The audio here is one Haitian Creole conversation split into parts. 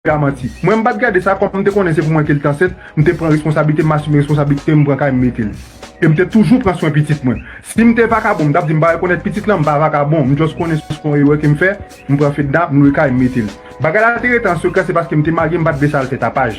Manti. Mwen m pat gade sa kòm m te konnen se pou mwen ke l t ansent, m te pran responsablite m asime responsablite m pran kay m mete l. E m te toujou pran swen pitit mwen. Si m te vakabon m tap di m pa rekonèt pitit lan m pa vakabon m just konnen se yon erè ke m fè m pran Fedna m lwe kay m mete l. Bagay la te rete an sekrè se paske m te marye m pat vle sa al fè tapaj.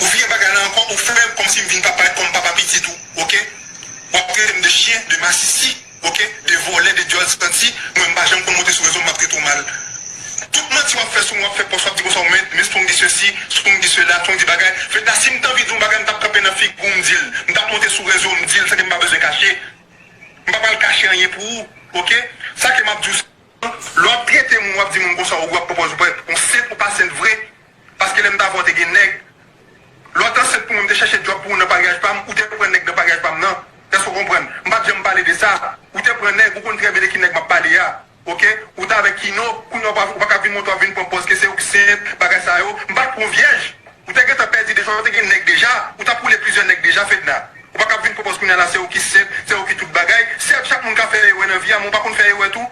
Ou vire bagay la ankò ou fèm kòmsi m vin papa et kòm papa pitit ou ok wap trete m de chyen de masisi ok de vòlè de dyòl santi mwen m pa janm konn monte sou rezo map trete w mal tout manti wap fè sou mwen wap fè pòs wap di konsa w mèt men strong di sesi strong di sela strong di bagay fedna si m t anvi di w yon bagay m tap kanpe nan figi w m di l m tap monte sou rezo m di l san ke m pa bezwen kache m pa pral kache anyen pou ou ok sa ke map di w se lè wap trete moun wap di moun konsa ou wap pran pòz ou pran yon sent ou pa sent vre. Paske lèm ta vè w te gen nèg. Lè w t ansent pou mwen m te chèche djòb pou ou nan paryaj pa m, ou te pran nèg nan paryaj pa m nan. Èske w konprann? M pa t janm pale de sa. Ou te pran nèg, ou konn trè byen de ki nèg m ap pale a. Ok. Ou t avèk Kino, kounye a ou pa ka vin montre w ap vin pran pòz ke se ou k sent, bagay sa yo. M pa t pran w vyèj. Ou te gentan pèdi deja, ou te gen nèg deja. Ou t ap woule plizyè nèg deja, Fedna. Ou pa ka ap vin pran pòz kounye a la se ou ki sent, se ou ki tout bagay. Sèvj, chak moun ka fè erè nan vi a, men w pa konn fè erè tou?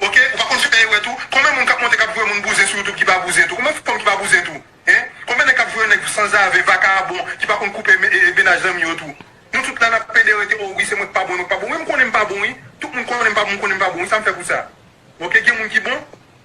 Ok ou pa konn fè erè tou konbyen moun kap monte kap voye moun bouzen sou youtube ki pa bouzen tou konbyen fanm ki pa bouzen tou hein konbyen nèg kap voye nèg sanzave vakabon ki pa konn koupe mennaj zanmi yo tou nou tout la nap pede rete oh wi se mwen ki pa bon mwen ki pa bon wi mkonnen mpa bon wi tout moun konnen mpa bon mkonnen mpa bon wi sam fè pou sa ok gen moun ki bon.